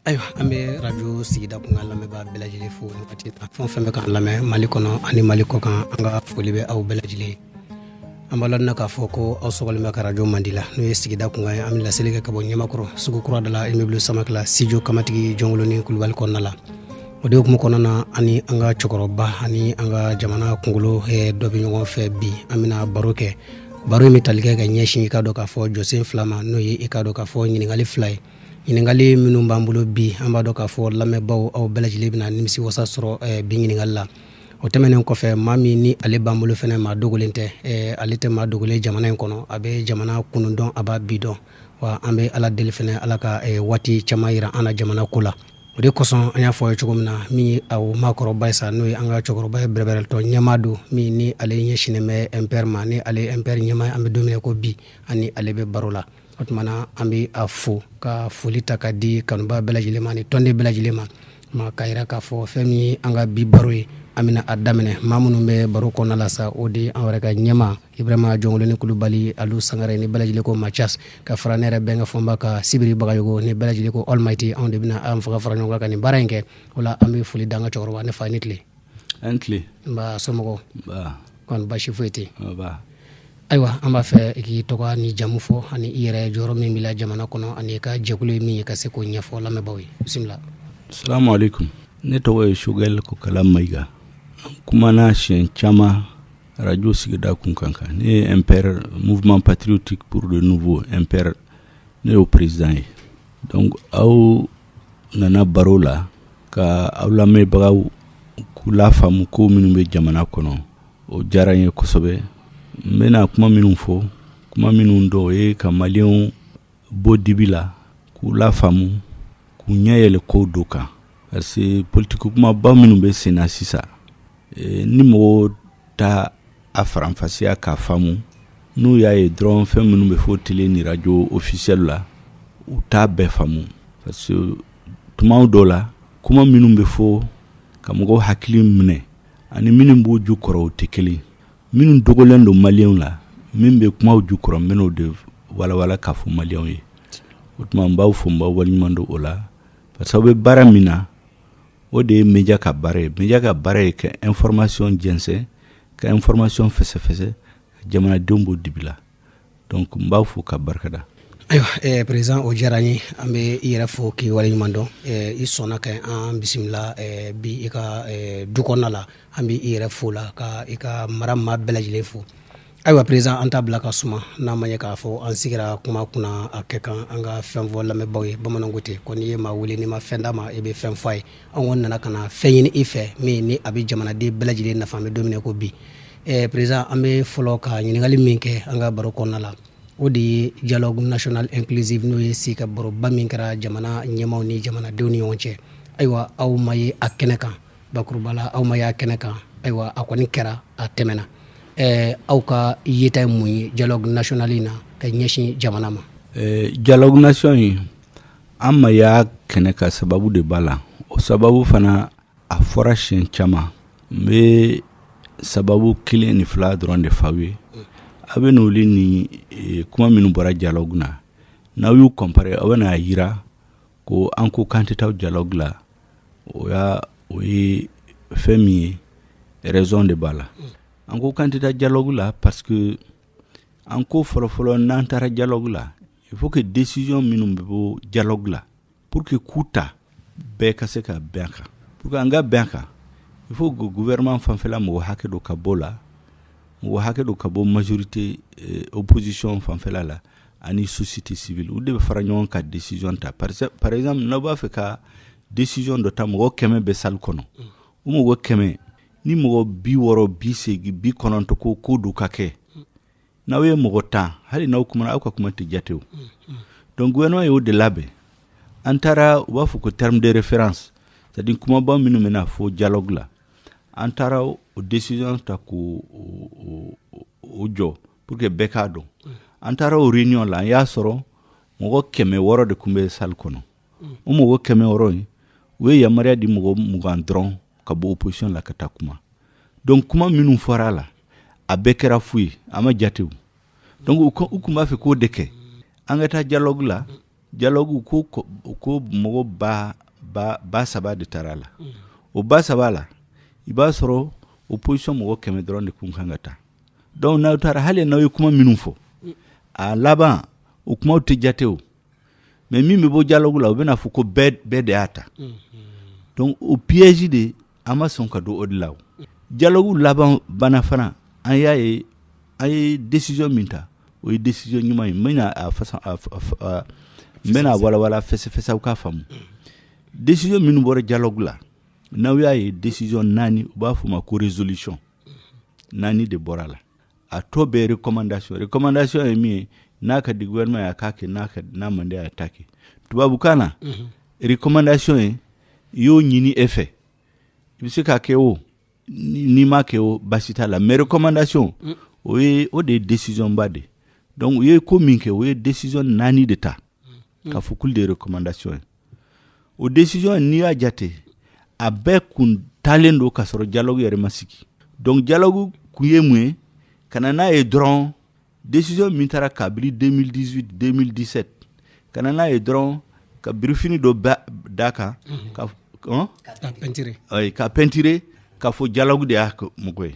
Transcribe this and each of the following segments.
ayiwa an bɛ radio sigida kunkan lamɛnbaa bɛɛ lajɛlen fo nin wagati ta fɛn o fɛn bɛ k'an lamɛn mali kɔnɔ ani mali kɔ kan an ka foli bɛ aw bɛɛ lajɛlen ye an b'aw ladɔnniya k'a fɔ ko aw sɔgɔlen bɛ ka radio mandi la n'o ye sigida kunkan ye an bɛ laseli kɛ ka bɔ ɲamakɔrɔ sugu kura da la immeuble samakela studio kamatigi jɔnkolonin kulubali kɔnɔna la o de hukumu kɔnɔna na ani an ka cɛkɔrɔba ani an ka jamana kunkolo dɔ bɛ ɲɔgɔn fɛ bi an bɛna baro kɛ baro in bɛ tali kɛ ka ɲɛsin i ka dɔn k'a fɔ jɔsen fila ma n'o ye i ka dɔn k'a fɔ ɲininkali fila ye ɲininkali minnu b'an bolo bi an b'a dɔn k'a fɔ lamɛnbaaw aw bɛɛ lajɛlen bɛna nimisi wasa sɔrɔ eh, bi ɲininkali la o tɛmɛnen kɔfɛ maa min ni ale b'an bolo fana maa dogolen tɛ eh, ale tɛ maa dogolen jamana in kɔnɔ a bɛ jamana kunun dɔn a b'a bi dɔn wa an bɛ ala deli fana ala ka eh, waati caman yira an na jamana ko la o de kosɔn an y'a fɔ ye cogo min na min ye aw maakɔrɔba ye sa n'o ye an ka cɛkɔrɔba ye bɛrɛbɛrɛ tɔn ɲɛmaa don min ni ale ɲɛ sinnen bɛ mpr ma ni ale mpr ɲɛmaa an bɛ don min na ko bi ani ale bɛ baro la o tuma na an bɛ a fo ka foli ta ka di kanubaa bɛɛ lajɛlen ma ni tɔnden bɛɛ lajɛlen ma ka yira k'a fɔ fɛn min ye an ka bi baro ye an bɛna a daminɛ maa minnu bɛ baro kɔnɔna la sa o de an yɛrɛ ka ɲɛmaa ibrahima jɔnkolonin kulubali alu sangare ni bɛɛ lajɛlen ko machas ka fara ne yɛrɛ bɛnkɛ fɔnba kan sibiri bagayogo ni bɛɛ lajɛlen ko almighty anw de bɛna an fanga fara ɲɔgɔn kan ka nin baara in kɛ o la an bɛ foli d'an ka cɛkɔrɔba ne fa ni tile aw ni tile nba somɔgɔw kɔni basi foyi tɛ ayiwa an b'a fɛ i k'i tɔgɔ ni jamu fɔ ani i yɛrɛ jɔyɔrɔ min b'i la jamana kɔnɔ ani i ka jɛkulu ye min ye ka se k'o ɲɛfɔ lamɛnbaaw ye bisimila salamu aleykum ne tɔgɔ ye choguel kokala mayiga n kumana siɲɛ caman radio sigida kunkan kan ne ye mpr mouvement patriotique pour le renouveau mpr ne y'o président ye donc aw nana baro la ka aw lamɛnbagaw k'u lafaamu ko minnu bɛ jamana kɔnɔ o diyara n ye kosɛbɛ n bɛna kuma minnu fɔ kuma minnu don o ye ka maliyɛnw bɔ dibi la k'u lafaamu k'u ɲɛ yɛlɛ ko dɔw kan parce que politiki kumaba minnu bɛ sen na sisan eh, ni mɔgɔw t'a faranfasiya k'a faamu n'u y'a ye dɔrɔn fɛn minnu bɛ fɔ tele ni radio officiel la u t'a bɛɛ faamu parce que tuma dɔw la kuma minnu bɛ fɔ ka mɔgɔw hakili minɛ ani minnu b'u ju kɔrɔ u tɛ kelen minnu dogolen don maliyɛnw la min bɛ kumaw ju kɔrɔ n bɛn'o de walawala k'a fɔ maliyɛnw ye o tuma n b'aw fo n b'aw waleɲuman dɔn o la parce que aw bɛ baara min na o de ye média ka baara ye média ka baara ye ka information jɛnsɛn ka information fɛsɛfɛsɛ jamanadenw bɔ dibi la donc n b'aw fo ka barika da ayiwa eh, président o diyara n ye an bɛ i yɛrɛ fo k'i waleɲuman dɔn eh, i sɔnna ka an bisimila eh, bi i ka eh, du kɔnɔna la an bɛ i yɛrɛ fo la ka i ka mara maa bɛɛ lajɛlen fo ayiwa président an t'a bila ka suma n'a ma ɲɛ k'a fɔ an sigira kuma kunna a kɛ kan an ka fɛn fɔ lamɛnbaaw ye bamananw ko ten ko n'i ye maa wele n'i ma fɛn d'a ma i bɛ fɛn fɔ a ye an kɔni nana ka na fɛn ɲini i fɛ min ni a bɛ jamanaden bɛɛ lajɛlen nafa an bɛ don min na ko bi eh, président an bɛ fɔlɔ ka ɲininkali min kɛ an ka baro kɔnɔna la o de ye dialogue national inclusive n'o ye sigi ka baroba min kɛra jamana ɲɛmaw ni jamanadenw ni ɲɔgɔn cɛ ayiwa aw ma ye a kɛnɛ kan bakuruba la aw ma ye a kɛnɛ kan ayiwa a kɔni kɛra a tɛmɛna eh, aw ka yeta ye mun ye dialogue national in na ka ɲɛsin jamana ma eh, dialogue national in an ma y'a kɛnɛ kan sababu de b'a la o sababu fana a fɔra siɲɛ caman n bɛ sababu kelen ni fila dɔrɔn de f'aw ye aw bɛn'olu ni eh, kuma minnu bɔra dialogue na n'aw y'u comparer a bɛn'a jira ko an ko k'an tɛ taa dialogue la o y'a o ye fɛn min ye raison de b'a la an ko k'an tɛ taa dialogue la parce que an ko fɔlɔfɔlɔ n'an taara dialogue la il faut que décision minnu bɛ bɔ dialogue la Pour que k'u ta bɛɛ ka se ka bɛn a kan pour que an ka bɛn a kan il faut que gouvernement fanfɛla mɔgɔ hakɛ dɔ ka bɔ la mɔgɔ hakɛ dɔ ka bɔ majorité eh, opposition fanfɛla la ani société civile u de bɛ fara ɲɔgɔn ka décision ta par exemple n'aw b'a fɛ ka décision dɔ ta mɔgɔ kɛmɛ bɛ salle kɔnɔ o mɔgɔ kɛmɛ ni mɔgɔ bi wɔɔrɔ bi seegin bi kɔnɔntɔ ko ko dɔ ka kɛ n'aw ye mɔgɔ tan hali n'aw kumana aw ka kuma tɛ jate o donc gouvernement y'o de labɛn an taara u b'a fɔ ko terme de référence c'est à dire kumaba minnu bɛna fɔ dialogue la an taara o décision ta k'o jɔ pour que bɛɛ k'a dɔn an taara o réunion la an y'a sɔrɔ mɔgɔ kɛmɛ wɔɔrɔ de tun bɛ salle kɔnɔ o mɔgɔ kɛmɛ wɔɔrɔ in u ye yamaruya di mɔgɔ mugan dɔrɔn ka bɔ opposition la ka taa kuma donc kuma minnu fɔra a la a bɛɛ kɛra fu ye a ma jatew donc u tun b'a fɛ k'o de kɛ an ka taa dialogue la dialogue ko ko mɔgɔ ba ba ba saba de taara a la o ba saba la i b'a sɔrɔ opposition mɔgɔ kɛmɛ dɔrɔn de kun kan ka taa donc n'aw taara hali n'aw ye kuma minnu fɔ a laban o kumaw tɛ jatew mais min bɛ bɔ dialogue la u bɛna fɔ ko bɛɛ de y'a ta donc o piège de an ma sɔn ka don o de la dialogue laban banna fana an y'a ye an ye décision min ta o ye décision ɲuman ye bɛna n bɛna walawala fɛsɛfɛsɛ aw k'a faamu décision minnu bɔra dialogue la n'aw y'a ye décision naani u b'a f'o ma ko résolution naani de bɔra a la a tɔ bɛɛ recommandation recommandation ye min ye n'a ka di gouvernement ye a k'a kɛ n'a ka n'a man di a ye a t'a kɛ tubabukan na mhm. recommandation ye i y'o ɲini e fɛ i bɛ se k'a kɛ o n'i m'a kɛ o baasi t'a la mais recommandation mm. o ye o de ye décision ba de donc u ye ko min kɛ u ye décision naani de ta mm. ka fɔ k'olu de ye recommandation ye o décision in n'i y'a jate a bɛɛ kun talen don ka sɔrɔ dialogue yɛrɛ ma sigi donc dialogue kun ye mun ye ka na n'a ye dɔrɔn décision min taara kabiri 2018 2017 ka na n'a ye dɔrɔn ka birifini dɔ d'a kan ka peinturer ka fɔ dialogue de y'a mɔgɔ ye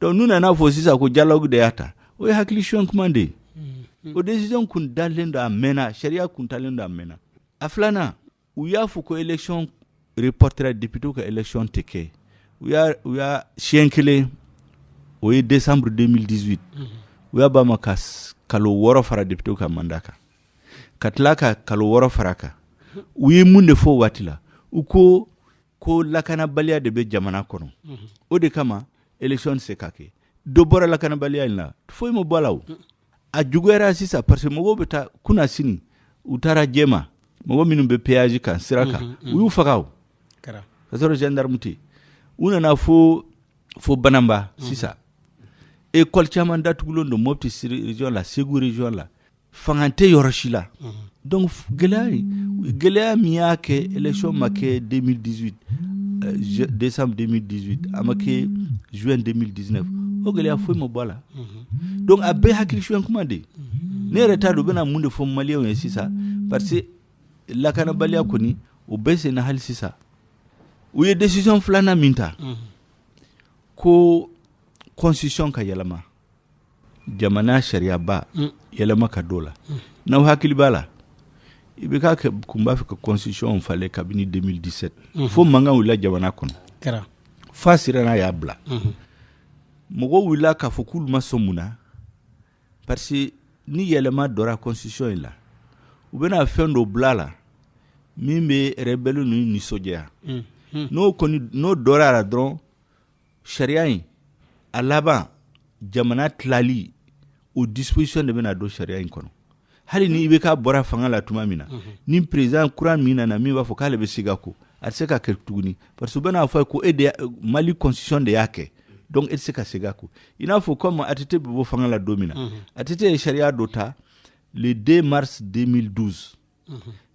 donc n'u nana fɔ sisan ko dialogue de y'a ta o ye hakili suɲɛ kuma de ye o décision kun talen don a mɛnna sariya kun talen don a mɛnna a filanan u y'a fɔ ko élection reportera député ka élection tɛ kɛ u y'a siɲɛ kelen o ye décembre 2018 u y'a b'a ma ka kalo wɔɔrɔ fara député ka mandat kan ka tila ka kalo wɔɔrɔ fara kan u ye mun de fɔ waati la u ko ko lakanabaliya de bɛ jamana kɔnɔ mhm. o de kama élection se ka kɛ dɔ bɔra lakanabaliya in la foyi ma bɔ a la o a juguyara sisan parce que mɔgɔw bɛ taa kunasini u taara jɛma mɔgɔ minnu bɛ péage kan sira kan mhm, mhm. u y'u faga o ka sɔrɔ gendarme tɛ u nana fo fo banamba sisan école caman datugulen don mopti région la segu région la fanga tɛ yɔrɔ si la donc gɛlɛya gɛlɛya min y'a kɛ élection ma kɛ 2018 euh, décembre 2018 a ma kɛ juin 2019 o gɛlɛya foyi ma bɔ a la donc a bɛɛ hakilisuɲɛ kuma de ne yɛrɛ t'a dɔn u bɛna mun de fɔ maliyɛnw ye sisan parce que lakanabaliya kɔni o bɛ senna hali sisan u ye décision filanan min ta ko constitution ka yɛlɛma jamana sariyaba mm. yɛlɛma ka don la mm. n'aw hakili b'a la IBK kun b'a fɛ ka constitution falen kabini 2017 mm-hmm. fo mankan wulila jamana kɔnɔ kɛra f'a siranna y'a bila mm-hmm. mɔgɔw wulila k'a fɔ k'olu ma sɔn mun na parce que ni yɛlɛma dɔra constitution in la u bɛna fɛn dɔ bila la min bɛ rebelle ninnu nisɔndiya mm-hmm. n'o kɔni n'o dɔra la dɔrɔn sariya in a laban jamana tilali o disposition de bɛna don sariya in kɔnɔ hali ni IBK bɔra fanga la tuma min na mhm. ni président kura min nana min b'a fɔ k'ale bɛ segin a kɔ a tɛ se ka kɛ tuguni parce que u bɛna fɔ a ye ko e de mali constitution de y'a kɛ donc e tɛ se ka segin a kɔ i n'a fɔ comme ATT bɛ bɔ fanga la don min na mhm. ATT ye sariya dɔ ta le 2 mars 2012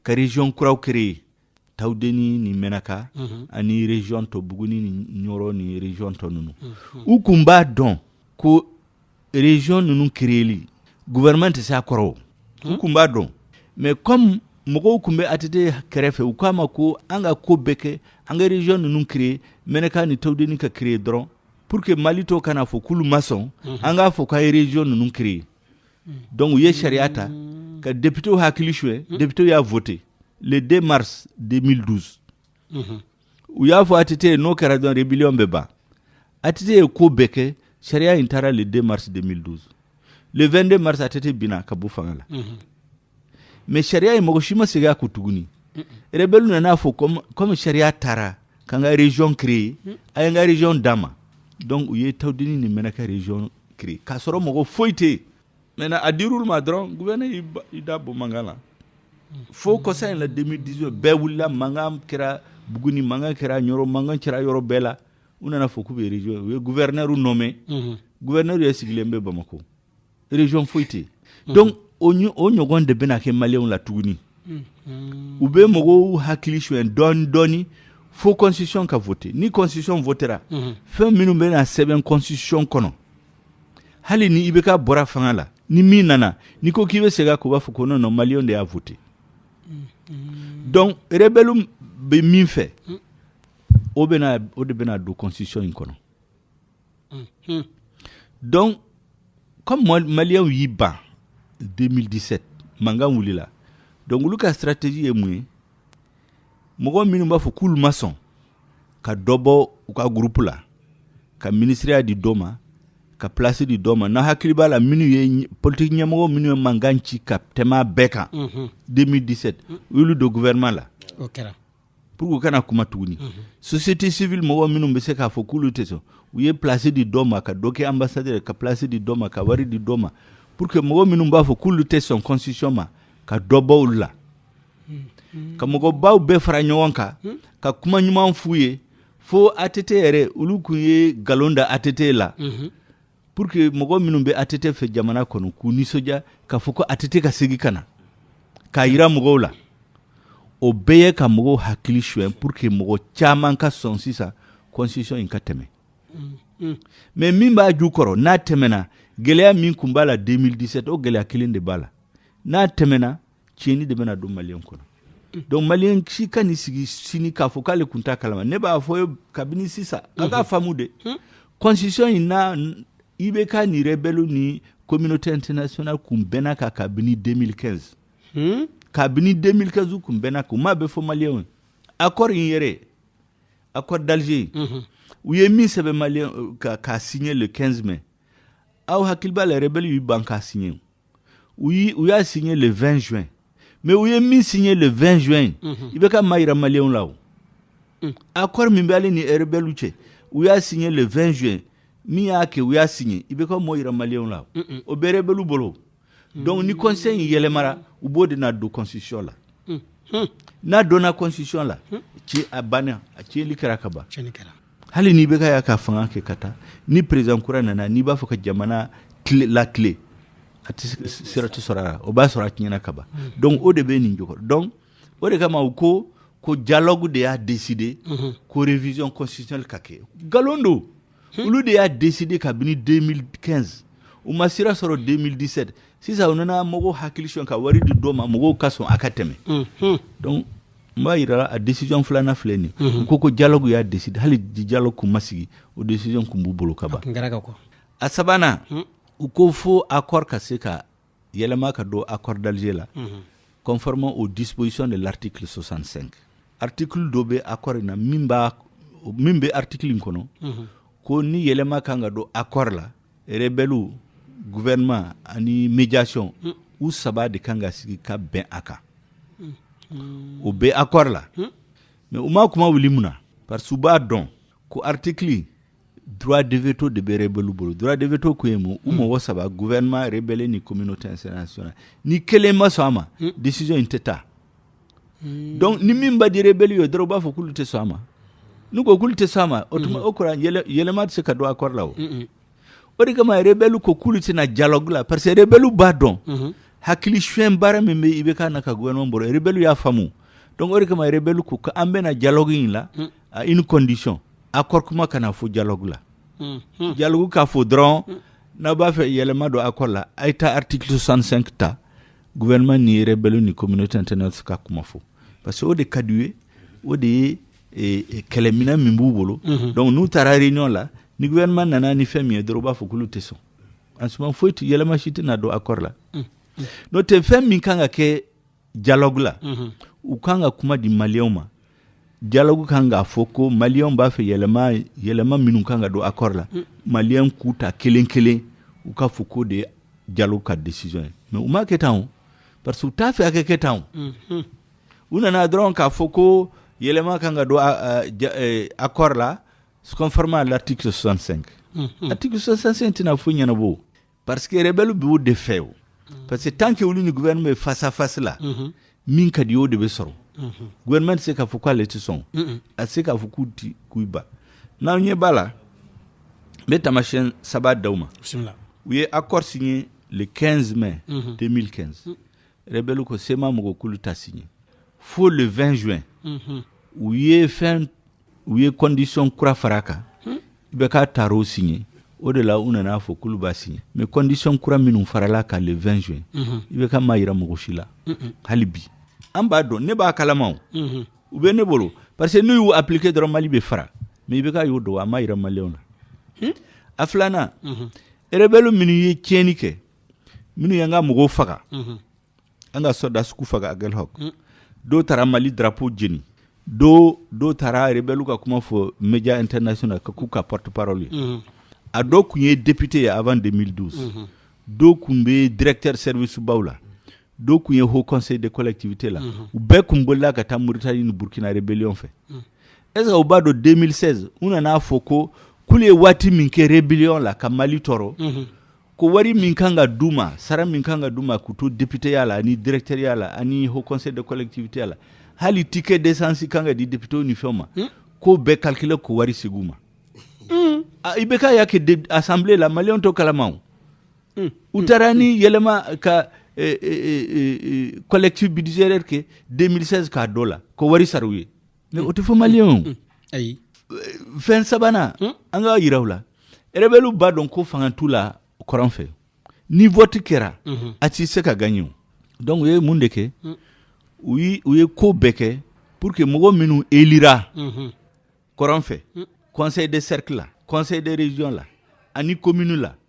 ka region kuraw créer tawudeni ni mɛnaka ani region tɔ buguni ni ɲɔrɔ ni region tɔ ninnu u kun b'a dɔn ko region ninnu créeli gouvernement tɛ se a kɔrɔ u kun b'a dɔn mais comme mɔgɔw kun bɛ ATT kɛrɛfɛ u k'a ma ko an ka ko bɛɛ kɛ an ka region ninnu créer mɛnaka ni tawudeni ka créer dɔrɔn pour que mali tɔ kana fɔ k'olu ma sɔn an k'a fɔ k'an ye region ninnu créer Donc u ye sariya ta ka députés hakili suɲɛ députés y'a voté le 2 mars 2012 u y'a fɔ ATT ye n'o kɛra dɔrɔn rébellion bɛ ban ATT ye ko bɛɛ kɛ sariya in taara le 2 mars 2012 le 22 mars ATT binna ka bɔ fanga la mais sariya in mɔgɔ si ma segin a ko tuguni rebellew nana fɔ comme sariya taara k'an ka region créer a ye n ka region d'an ma donc u ye tawudeni ni mɛnaka region créer k'a sɔrɔ mɔgɔ foyi tɛ yen maintenant a dir'olu ma dɔrɔn gouverneur y'i da bɔ mankan na fo kɔsa in la 2018 bɛɛ wulila mankan kɛra buguni mankan kɛra ɲɔrɔ mankan kɛra yɔrɔ bɛɛ la u nana fɔ k'u bɛ region u ye gouverneurw nommer gouverneurw yɛrɛ sigilen bɛ bamako region foyi tɛ yen donc o ɲɔgɔn de bɛna kɛ maliyɛnw la tuguni u bɛ mɔgɔw hakili suɲɛ dɔɔni dɔɔni fo constitution ka voter ni constitution votera fɛn minnu bɛna sɛbɛn constitution kɔnɔ hali ni IBK bɔra fanga la ni min nana n'i ko k'i bɛ segin a kan u b'a fɔ ko non non maliyɛnw de y'a voter donc rebelle bɛ min fɛ o de bɛna don constitution in kɔnɔ. donc comme maliyɛnw y'i ban 2017 mankan wulila donc olu ka stratégie ye mun ye mɔgɔ minnu b'a fɔ k'olu ma sɔn ka dɔ bɔ u ka groupe la ka minisiriya di dɔ ma ka place di dɔ ma n'aw hakili b'a la minnu ye politique ɲɛmɔgɔ minnu ye mankan ci ka tɛmɛ bɛɛ kan 2017 u y'olu don gouvernement la pour que u kana kuma tuguni mhm. société civile mɔgɔ minnu bɛ se k'a fɔ k'olu tɛ sɔn u ye place di dɔ ma ka dɔ kɛ ambassadeur ka place di dɔ ma ka wari di dɔ ma pour que mɔgɔ minnu b'a fɔ k'olu tɛ sɔn constitution ma ka dɔ bɔ olu la mhm. ka mɔgɔbaw bɛɛ fara ɲɔgɔn kan mhm. ka kuma ɲuman f'u ye fo ATT yɛrɛ olu kun ye galon da ATT la pour que mɔgɔ minnu bɛ ATT fɛ jamana kɔnɔ k'u nisɔndiya k'a fɔ ko ATT ka segin ka na k'a yira mɔgɔw la o bɛɛ ye ka mɔgɔw hakili suɲɛ pour que mɔgɔ caman ka sɔn sisan constitution in ka tɛmɛ mais min b'a jukɔrɔ n'a tɛmɛna gɛlɛya min kun b'a la 2017 o gɛlɛya kelen de b'a la n'a tɛmɛna tiɲɛni de bɛna don maliyɛn kɔnɔ donc maliyɛn si kan'i sigi sini k'a fɔ k'ale kun t'a kalama ne b'a fɔ ye kabini sisan a k'a faamu dɛ constitution in na IBK ni rebelle ni communauté internationale kun bɛnna a kan kabini 2015 hmm? kabini 2015 u kun bɛnna a kan u m'a bɛɛ fɔ maliyɛnw ye accord in yɛrɛ accord d'Alger in u ye min sɛbɛn maliyɛn k'a signer le 15 mai aw hakili b'a la rebelle y'u ban k'a signé u y'i u y'a signé le 20 juin mais u ye min signé le 20 juin mhm. IBK m'a yira maliyɛnw la o mm. accord min bɛ ale ni rebelle cɛ u y'a signé le 20 juin min y'a kɛ u y'a signé IBK m'a yira maliyɛnw la o bɛ rebelle bolo donc ni constitution in yɛlɛmara u b'o de na don constitution la n'a donna constitution la ci a banna a cili kɛra ka ban hali ni IBK y'a ka fanga kɛ ka taa ni président kura nana n'i b'a fɔ ka jamana latilen a sira tɛ sɔrɔ a la o b'a sɔrɔ a tiɲɛna kaban donc o de bɛ nin jukɔrɔ donc o de kama u ko ko dialogue de y'a décidé ko révision constitutionnelle ka kɛ nkalon don Hmm. olu de y'a décidé kabini 2015 u ma sira sɔrɔ 2017 sisan u nana mɔgɔw hakili sonya ka wari di dɔ ma mɔgɔw ka sɔn a ka tɛmɛ hmm, hmm. donc n b'a yira a la décision filanan filɛ nin u ko ko dialogue y'a décidé hali dialogue kun ma sigi o décision kun b'u bolo ka ban a sabanan u ko fo accord ka se ka yɛlɛma ka don accord d'Alger la mhm. conformément aux dispositions de l'article 65 article dɔ bɛ accord in na min b'a min bɛ article in kɔnɔ mhm. ko ni yɛlɛma kan ka don accord la rebɛliw gouvernement ani médiation mm. u saba de kan ka sigi ka bɛn a kan mm. o bɛ accord la mm. mais u ma kuma wuli mun na parce que u b'a dɔn ko article droit de veto de bɛ rebelle bolo droit de veto kun ye mun u mɔgɔ saba gouvernement rebelle ni communauté internationale ni kelen ma sɔn a ma hmm. décision in tɛ taa hmm. donc ni min man di rebelle ye dɔrɔn u b'a fɔ k'olu tɛ sɔn a ma n'u ko k'olu tɛ sɔn a ma o tuma hmm. o kɔrɔ yɛlɛma tɛ se ka don accord la o o de kama rebelle ko k'olu tɛ na dialogue la parce que rebelle b'a dɔn hakili suɲɛ baara min bɛ IBK n'a ka gouvernement bolo rebelle y'a faamu donc o de kama rebelle ko k'an bɛ na dialogue in la à une condition accord kuma kana fɔ dialogue la mm -hmm. dialogue ka fɔ dɔrɔn mm. n'a b'a fɛ yɛlɛma don accord la a ye taa article 65 ta gouvernement ni rebelle ni communauté internationale ka kuma fɔ parce que o de ka d'u ye o de ye e, e, kɛlɛminɛn min b'u bolo mm -hmm. donc n'u taara réunion la ni gouvernement nana ni fɛn min ye dɔrɔn u b'a fɔ k'olu tɛ sɔn en ce moment foyi yɛlɛma si tɛna don accord la mm. n'o tɛ fɛn min kan ka kɛ dialogue la mhm. u kan ka kuma di maliyɛnw ma dialogue kan k'a fɔ ko maliyɛnw b'a fɛ yɛlɛma yɛlɛma minnu kan ka don accord la mm. maliyɛnw k'u ta kelen kelen u k'a fɔ k'o de ye dialogue ka décision ye mais u m'a kɛ tan o parce que u t'a fɛ a ka kɛ tan o mhm. u nana dɔrɔn k'a fɔ ko yɛlɛma kan ka don e, accord la conformément à l'article 65 mhm. article 65 tɛna foyi ɲɛnabɔ parce que rebelle b'o de fɛ o parce que tant que olu ni gouvernement bɛ face à face la min ka d'u ye o de bɛ sɔrɔ gouvernement tɛ se k'a fɔ k'ale tɛ sɔn a tɛ se k'a fɔ k'u tɛ k'u ban n'aw ɲɛ b'a la n bɛ taamasiyɛn saba d'aw ma u ye accord signé le 15 mai 2015 rebelle ko CMA mɔgɔw k'olu t'a signé fo le 20 juin u ye fɛn u ye condition kura far'a kan hmm? IBK taar'o signé o de la u nan'a fɔ k'olu b'a signé mais condition kura minnu faral'a kan le 20 juin mhm. IBK m'a yira mɔgɔ si la hali bi an b'a dɔn ne b'a kalama mhm. u bɛ ne bolo parce que n'u y'u appliquer dɔrɔn mali bɛ fara mais IBK y'o dɔn a m'a yira maliyɛnw na hmm? a filanan mhm. rebɛliw minnu ye tiɲɛni kɛ minnu y'an ka mɔgɔw faga an ka sɔrɔdasiw k'u faga Aguelhok mm. dɔw taara mali darapo jeni dɔ dɔw taara rebɛliw ka kuma fɔ média international ka k'u ka porte parole ye mm-hmm. a dɔw kun ye député ye avant 2012 mm-hmm. dɔw kun bɛ directeur service baw la dɔw kun ye haut conseil de collectivité la mm-hmm. u bɛɛ kun bolila ka taa mauritanie ni burkina rébellion fɛ mm. est ce que u b'a dɔn 2016 u nan'a fɔ ko k'olu ye waati min kɛ rébellion la ka mali tɔɔrɔ ko wari min kan ka d'u ma sara min kan ka d'u ma k'u to depiteya la ani directɛriya la ani haut conseil de collectivité la hali ticket d'essence kan ka di depitew ni fɛnw ma hmm? k'o bɛɛ calculer k'o wari segin u ma hmm. ah, IBK y'a kɛ assemblée la maliyɛnw t'o kalama o hmm. u taara ni yɛlɛma ka eh, eh, eh, collectif budgétaire kɛ 2016 k'a don o la k'o wari sara u ye mais o tɛ fɔ maliyɛnw ye fɛn sabanan hmm? an k'a yir'aw la rebɛliw b'a dɔn ko fanga t'u la kɔrɔn fɛ ni vɔti kɛra mhm. a ti se ka gaɲe donc u ye mun de kɛ hmm. u ye ko bɛɛ kɛ pour que mɔgɔ minnu elira mhm. kɔrɔn fɛ hmm. conseil de cercle la conseil de région la ani commune la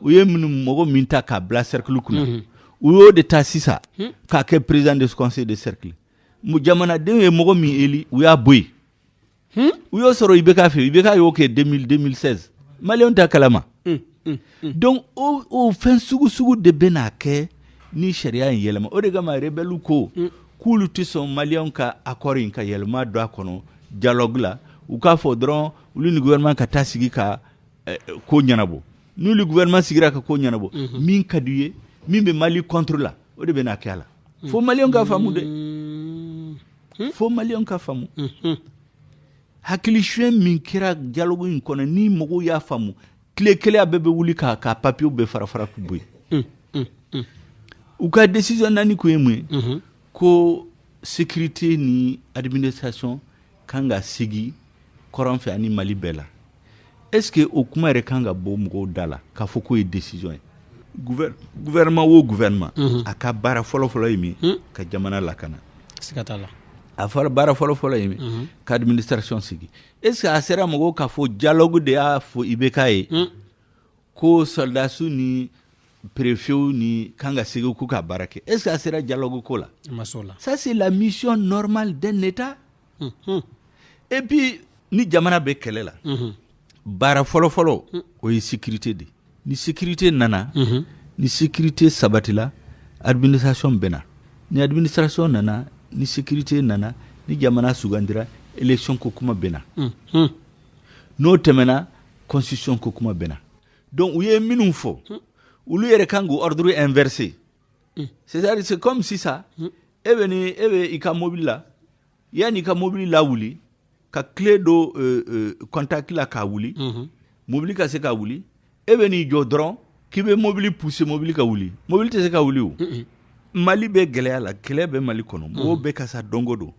u ye minnu mɔgɔ min ta k'a bila cercle kunna mhm. u y'o de ta sisan hmm. k'a kɛ président de conseil de cercle jamanadenw ye mɔgɔ min eli u y'a bɔ yen hmm? u y'o sɔrɔ IBK fɛ IBK y'o kɛ 2016 maliyɛnw t'a kalama hmm, donc o o fɛn sugu sugu de bɛna kɛ ni sariya in yɛlɛma o de kama rebɛliw ko k'olu tɛ sɔn maliyɛnw ka accord in ka yɛlɛma don a kɔnɔ dialogue la u k'a fɔ dɔrɔn olu ni gouvernement ka taa sigi ka ko ɲɛnabɔ n'olu gouvernement sigira ka ko ɲɛnabɔ min ka di u ye min bɛ mali contre la o de bɛ na kɛ la fo maliens ka faamu dɛ fo maliens ka faamu hakili sonyɛ min kɛra dialogue in kɔnɔ ni mɔgɔw y'a faamu tile kelen na bɛɛ bɛ wuli ka papiyew bɛɛ farafara k'u bɔ yen u ka décision naani kun ye mun ye ko sécurité ni administration kan ka sigi kɔrɔn fɛ ani mali bɛɛ la est ce que o kuma yɛrɛ kan ka bɔ mɔgɔw da la k'a fɔ k'o ye décision ye gouvernement o gouvernement mhm. a ka baara fɔlɔfɔlɔ ye min hmm. ka jamana lakana siga t'a la a fɔra baara fɔlɔfɔlɔ ye min mhm. ka administration sigi est ce que a sera mɔgɔw k'a fɔ dialogue de y'a fɔ ibk ye hmm. ko sɔrɔdasiw ni perefew nin kan ka segin k'u ka baara kɛ est ce que a sera dialogue ko la ça c'est la mission normale d'un état mm -hmm. et puis ni jamana bɛ kɛlɛ la mm -hmm. baara fɔlɔ fɔlɔ mm. o ye sécurité de ni sécurité nana mm -hmm. ni sécurité sabatila administration bɛna ni administration nana ni sécurité nana ni jamana sugandira élection ko kuma bɛna mm -hmm. n'o tɛmɛna constitution ko kuma bɛna donc u ye minnu fɔ olu yɛrɛ kan k'u ordre inversé c'est à dire c'est comme sisan e bɛ ni e bɛ i ka mobili la yanni i ka mobili lawuli ka clé don euh, euh, contact la k'a wuli mobili ka se ka wuli e bɛ n'i jɔ dɔrɔn k'i bɛ mobili pousser mobili ka wuli mobili tɛ se ka wuli o mali bɛ gɛlɛya la kɛlɛ bɛ mali kɔnɔ mɔgɔw bɛ ka sa don go don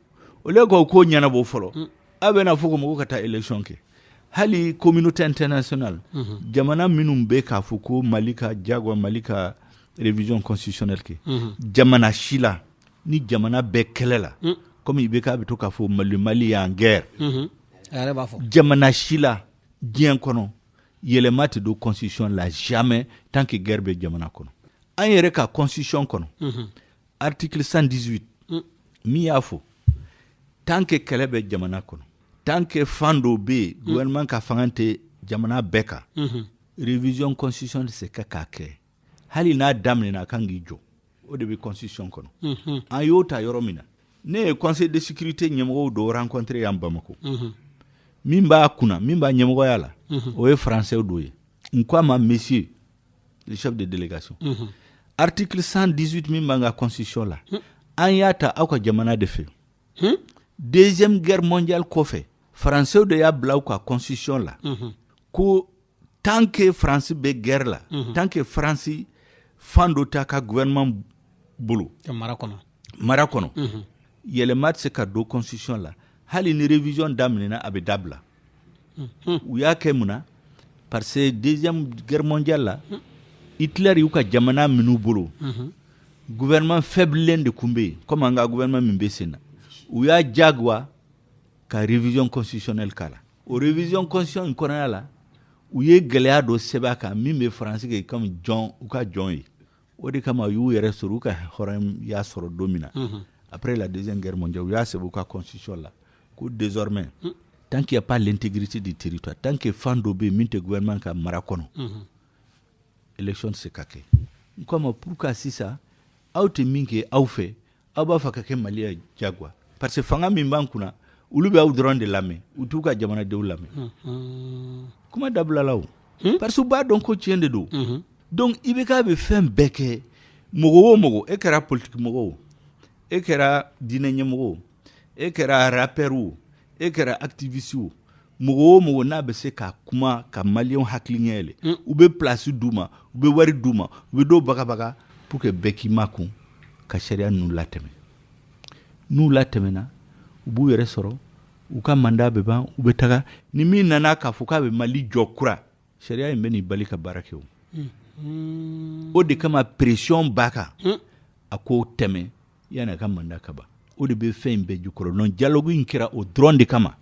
au lieu k'o ko ɲɛnabɔ fɔlɔ a bɛna fɔ ko mɔgɔw ka taa élection kɛ hali communauté internationale jamana minnu bɛ k'a fɔ ko mali ka jagoya mali ka révision constitutionnelle kɛ jamana si la ni jamana bɛ kɛlɛ la comme ibk bɛ to k'a fɔ mali est en guerre jamana si la diɲɛ kɔnɔ yɛlɛma tɛ don constitution la jamais tant que guerre bɛ jamana kɔnɔ an yɛrɛ ka constitution kɔnɔ mhm. article 118 mm. min y'a fɔ tant que kɛlɛ bɛ jamana kɔnɔ tant que fan dɔ bɛ yen mm. gouvernement ka fanga tɛ jamana bɛɛ kan mhm. révision constitution tɛ se ka k'a kɛ hali n'a daminɛna a kan k'i jɔ o de bɛ constitution kɔnɔ mhm. an y'o ta yɔrɔ min na ne ye conseil de sécurité ɲɛmɔgɔw dɔ rencontré yan bamako mhm. min b'a kunna min b'a ɲɛmɔgɔya la mhm. o ye français dɔ ye n ko a ma monsieur le chef de délégation article 118 min b'an ka constitution la hmm. an y'a ta aw ka jamana de fɛ hmm? deuxième guerre mondiale kɔfɛ français de y'a bila u ka constitution la ko tant que France bɛ guerre la mhm. tant que France fan dɔ t'a ka gouvernement bolo mara kɔnɔ mara kɔnɔ mhm. yɛlɛma tɛ se ka don constitution la hali ni révision daminɛna a bɛ dabila mhm. u y'a kɛ mun na parce que deuxième guerre mondiale la Hitler y'u ka jamana minɛ u bolo gouvernement faible de tun bɛ yen komi an ka gouvernement min bɛ sen na u y'a jagoya ka révision constitutionnelle k'a la o révision constitution in kɔnɔya la u ye gɛlɛya dɔ sɛbɛn a kan min bɛ faransi kɛ komi jɔn u ka jɔn ye o de kama u y'u yɛrɛ sɔrɔ u ka hɔrɔnya sɔrɔ don min na mhm. après la deuxième guerre mondiale u y'a sɛbɛn u ka constitution la ko désormais mhm. tant qu'il n'y a pas l'intégrité du territoire tant que fan dɔ bɛ yen min tɛ gouvernement ka mara kɔnɔ mhm. élection tɛ se ka kɛ n ko a ma pourquoi sisan aw tɛ min kɛ aw fɛ aw b'a fɛ k'a kɛ Mali yan jagoya parce que fanga min b'an kunna olu bɛ aw dɔrɔn de lamɛn u t'u ka jamanadenw lamɛn kuma dabilala o hmm? parce que u b'a dɔn ko tiɲɛ de don mhm. donc i bɛ k'a bɛ fɛn bɛɛ kɛ mɔgɔ o mɔgɔ e kɛra politiki mɔgɔ o e kɛra diinɛ ɲɛmɔgɔ o e kɛra rappeur o e kɛra activiste o mɔgɔ o mɔgɔ n'a bɛ se ka kuma ka maliyɛnw hakili ɲɛ yɛlɛ mm. u bɛ place d'u ma u bɛ wari d'u ma u bɛ dɔw bagabaga pour que bɛɛ k'i makun ka sariya ninnu latɛmɛ n'u latɛmɛna u b'u yɛrɛ sɔrɔ u ka mandat bɛ ban u bɛ taga ni min nana k'a fɔ k'a bɛ Mali jɔ kura sariya in bɛ nin bali ka baara kɛ o mm. o de kama pression b'a kan mm. a k'o tɛmɛ Yan'a ka mandat ka ban o de bɛ fɛn in bɛɛ jukɔrɔ donc dialogue in kɛra o dɔrɔn de kama,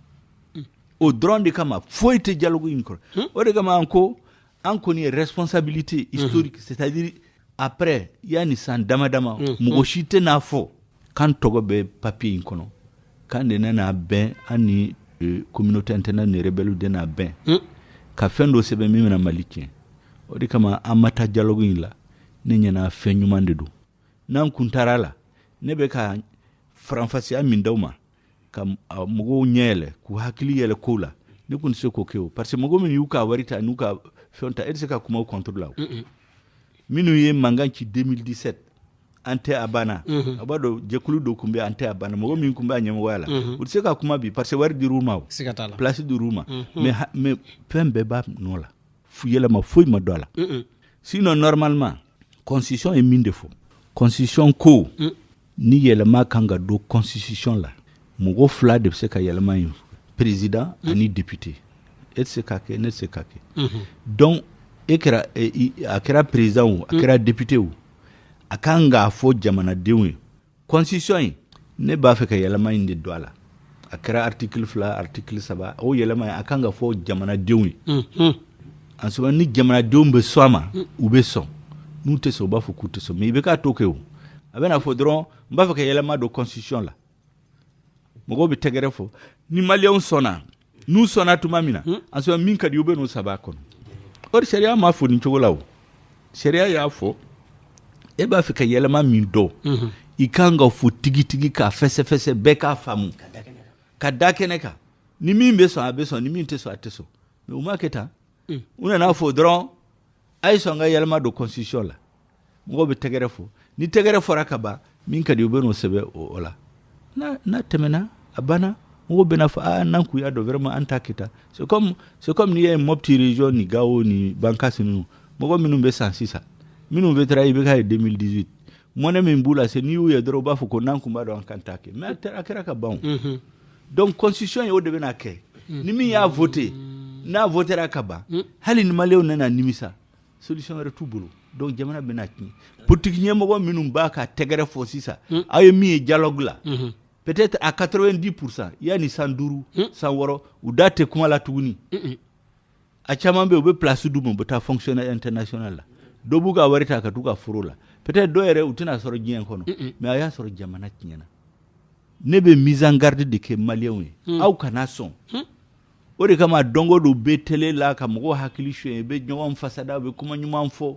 unhun, o dɔrɔn de kama foyi tɛ dialogue in kɔrɔ, unhun, o de kama an ko an kɔni ye responsabilité historique c'est à dire après yani san dama dama mɔgɔ si tɛn'a fɔ k'an tɔgɔ bɛ papier in kɔnɔ k'an de nana bɛn an ni euh, communauté internationale ni rebelles de nana bɛn ka fɛn dɔ sɛbɛn min bɛna Mali tiɲɛ o de kama an ma taa dialogue in la ne ɲɛ na fɛn ɲuman de don n'an kun taara la ne bɛ ka faranfasiya min d'aw ma ka mɔgɔw ɲɛ yɛlɛ k'u hakili yɛlɛ kow la ne kun tɛ se k'o kɛ o parce que mɔgɔ min y'u ka wari ta n'u ka fɛn ta e tɛ se ka kuma o contre la o minnu ye mankan ci 2017 an tɛ a banna a b'a dɔn jɛkulu dɔ kun bɛ an tɛ a banna mɔgɔ min kun bɛ a ɲɛmɔgɔya la u tɛ se ka kuma bi parce que wari dir'u ma o place dir'u ma mais mais fɛn bɛɛ b'a nɔ la yɛlɛma foyi ma don a la sinon normalement constitution ye min de fɔ constitution ko mm. ni yɛlɛma kan ka don constitution la mɔgɔ fila de bɛ se k'a yɛlɛma in président mm. ani député e tɛ se k'a kɛ ne tɛ se k'a kɛ mm-hmm. donc e kɛra e, a kɛra président o a mm. kɛra député o a kan k'a fɔ jamanadenw ye constitution in ne b'a fɛ ka yɛlɛma in de don a la a kɛra article fila article saba o yɛlɛma in a kan ka fɔ jamanadenw ye mhm. en ce moment ni jamanadenw bɛ sɔn a ma mm. u bɛ sɔn n'u tɛ sɔn u b'a fɔ k'u tɛ sɔn mais i bɛ k'a to kɛ o a bɛna fɔ dɔrɔn n b'a fɛ ka yɛlɛma don constitution la mɔgɔw bɛ tɛgɛrɛ fɔ ni maliyɛnw sɔnna n'u sɔnna tuma min na hmm. en ce moment min ka di u bɛ n'o sɛbɛn a kɔnɔ or sariya m'a fɔ nin cogo la o sariya y'a fɔ e b'a fɛ ka yɛlɛma min don hmm. i kan k'a fɔ tigitigi k'a fɛsɛfɛsɛ bɛɛ k'a faamu k'a da kɛnɛ kan ni min bɛ sɔn a bɛ sɔn ni min tɛ sɔn a tɛ sɔn mais u m'a kɛ tan u nana fɔ dɔrɔn a ye sɔn ka yɛlɛma don constitution la mɔgɔw bɛ tɛgɛrɛ fɔ ni tɛgɛrɛ fɔra ka ban min ka di u bɛ n'o sɛbɛn o la n'a tɛmɛna a banna mɔgɔw bɛna fɔ aa n'an kun y'a dɔn vraiment an t'a kɛ tan c'est comme n'i ye Mopti région ni Gao ni bankasi ninnu mɔgɔ minnu bɛ san sisan minnu votera IBK ye 2018 mɔnɛ min b'u la se n'i y'u ye dɔrɔn u b'a fɔ ko n'an tun b'a dɔn an kun t'a kɛ mais a kɛra ka ban donc constitution ye o de bɛna kɛ hmm. ni min y'a vote n'a votera ka ban hmm. hali ni maliyɛnw nana nimisa solution wɛrɛ t'u bolo donc jamana bɛna tiɲɛ politiki ɲɛmɔgɔ minnu b'a ka tɛgɛrɛ fɔ sisan hmm. aw ye min ye dialogue la peut-être à 90 pourcent yanni san duuru san wɔɔrɔ u da tɛ kuma la tuguni a caman bɛ u bɛ place di u ma u bɛ taa fonctionnaire international la dɔw b'u ka wari ta ka taa u ka foro la peut-être dɔw yɛrɛ u tɛna sɔrɔ diɲɛ kɔnɔ mais a y'a sɔrɔ jamana tiɲɛna ne bɛ mise en garde de kɛ maliyɛnw ye aw kana sɔn o de kama don o don u bɛ télé la ka mɔgɔw hakili sonyɛ bɛ ɲɔgɔn fasa da u bɛ kuma ɲuman fɔ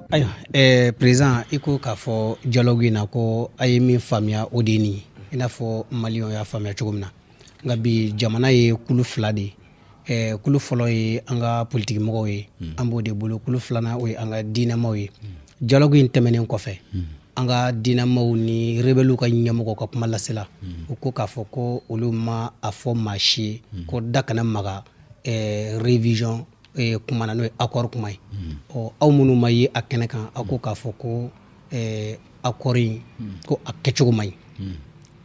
Ayiwa ɛɛ président i ko k'a fɔ dialogue in na ko a ye min faamuya o de nin i n'a fɔ maliyɛnw y'a faamuya cogo min na nka bi jamana ye kulu fila de ye kulu fɔlɔ ye an ka politigimɔgɔw ye an b'o de bolo kulu filanan o ye an ka diinɛmaw ye dialogue in tɛmɛnen kɔfɛ an ka diinɛmaw ni rebɛliw ka ɲɛmɔgɔ ka kuma lasela u ko k'a fɔ ko olu ma a fɔ maa si ye ko da kana maga révision eh, kuma na n'o ye accord kuma ye ɔ aw minnu ma ye a kɛnɛ kan aw ko k'a fɔ ko eh, accord in ko a kɛcogo man ɲi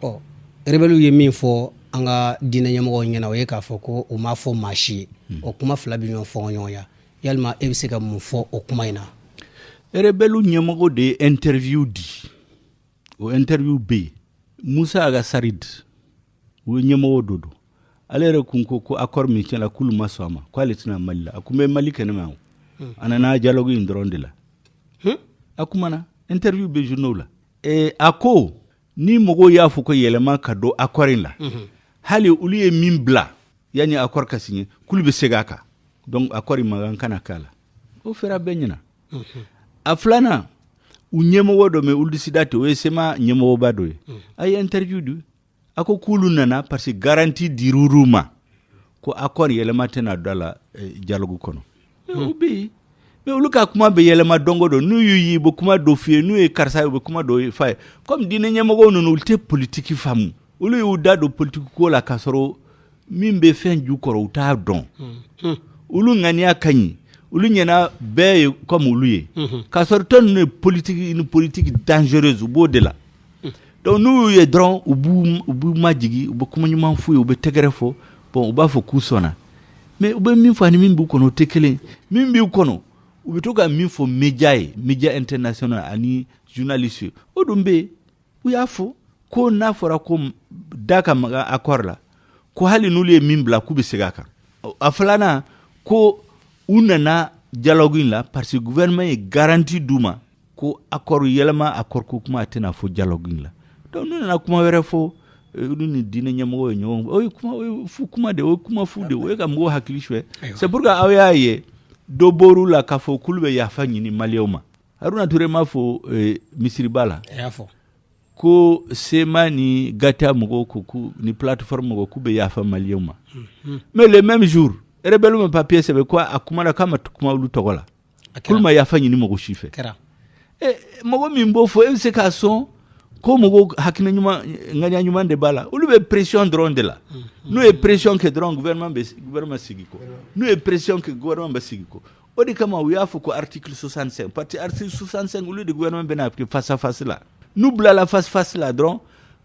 ɔ rebɛliw ye min fɔ an ka diinɛ ɲɛmɔgɔw ɲɛ na o ye k'a fɔ ko u m'a fɔ maa si ye o kuma fila bɛ ɲɔgɔn fɔngɔ ɲɔgɔn ya yalima e bɛ se ka mun fɔ o kuma in na rebɛliw ɲɛmɔgɔ de ye interview di o interview bɛ yen Moussa Ag Assarid u ye ɲɛmɔgɔ dɔ don ale yɛrɛ kun ko ko accord min signéna k'olu ma sɔn a ma ko ale tɛ na mali la a kun bɛ mali kɛnɛma yan hmm. a nana dialogue in dɔrɔn de la hmm? a kumana interview bɛ journaux la ee a ko ni mɔgɔw y'a fɔ ko yɛlɛma ka don accord in la hmm. hali olu ye min bila yanni accord ka signé k'olu bɛ segin a kan donc accord in maga kana k'a la o fɔra bɛɛ ɲɛna a filanan u ɲɛmɔgɔ dɔ mɛ ould sidati o ye CMA ɲɛmɔgɔba dɔ ye a ye interview di a ko k'olu nana parce que garanti dir'u ma ko accord yɛlɛma tɛna don a la eh, dialogue kɔnɔ o bɛ yen mais olu ka kuma bɛ yɛlɛma don go don n'u y'u ye u bɛ kuma dɔ f'i ye n'u ye karisa ye u bɛ kuma dɔ f'a ye komi diinɛ ɲɛmɔgɔw ninnu olu tɛ politiki faamu olu y'u da don politiki ko la k'a sɔrɔ min bɛ fɛn ju kɔrɔ u t'a dɔn hmm. olu ŋaniya ka ɲi olu ɲɛna bɛɛ ye comme olu ye hmm. k'a sɔrɔ tɔ ninnu ye politiki une politique dangereuse u b'o de la hmm. donc n'u y'u ye dɔrɔn u b'u u b'u majigi u bɛ kuma ɲuman f'u ye u bɛ tɛgɛrɛ fɔ bon u b'a fɔ k'u sɔnna mais u bɛ min fɔ ani min b'u kɔnɔ o tɛ kelen min b'u kɔnɔ u bɛ to ka min fɔ media ye media international ani journaliste o dun bɛ yen u y'a fɔ ko n'a fɔra ko da ka maga akɔri la ko hali n'olu ye min bila k'u bɛ segin a kan a filanan ko u nana dialogue in la parce que gouvernement ye garanti d'u ma ko akɔri yɛlɛma akɔri ko kuma a tɛna fɔ dialogue in la donc n'u nana kuma wɛrɛ fɔ olu ni diinɛ ɲɛmɔgɔ ye ɲɔgɔn o ye kuma o ye fu kuma de o ye kuma fu de o ye ka mɔgɔw hakili suɲɛ c'est pourquoi aw y'a ye dɔ bɔr'u la k'a fɔ k'olu bɛ yafa ɲini maliyɛnw ma haruna ture m'a fɔ eh, misiriba la a y'a fɔ ko CMA ni GATIA mɔgɔw ko ku ni plateforme mɔgɔw k'u bɛ yafa maliyɛnw ma mhm. mais le même jour rebelle ma papier sɛbɛn ko a kumana k'a ma kuma olu tɔgɔ la k'olu ma yafa ɲini mɔgɔ si fɛ eh, mɔgɔ min b'o fɔ e bɛ se ka sɔn ko mɔgɔw hakilina ɲuman ŋaniya ɲuman de b'a la olu bɛ pression dɔrɔn de la mhm. n'u ye pression kɛ dɔrɔn gouvernement bɛ gouvernement segin kɔ n'u ye pression kɛ gouvernement bɛ segin kɔ o de kama u y'a fɔ ko article 65 parce que article 65 olu de gouvernement bɛna kɛ face à face la n'u bilala face à face la dɔrɔn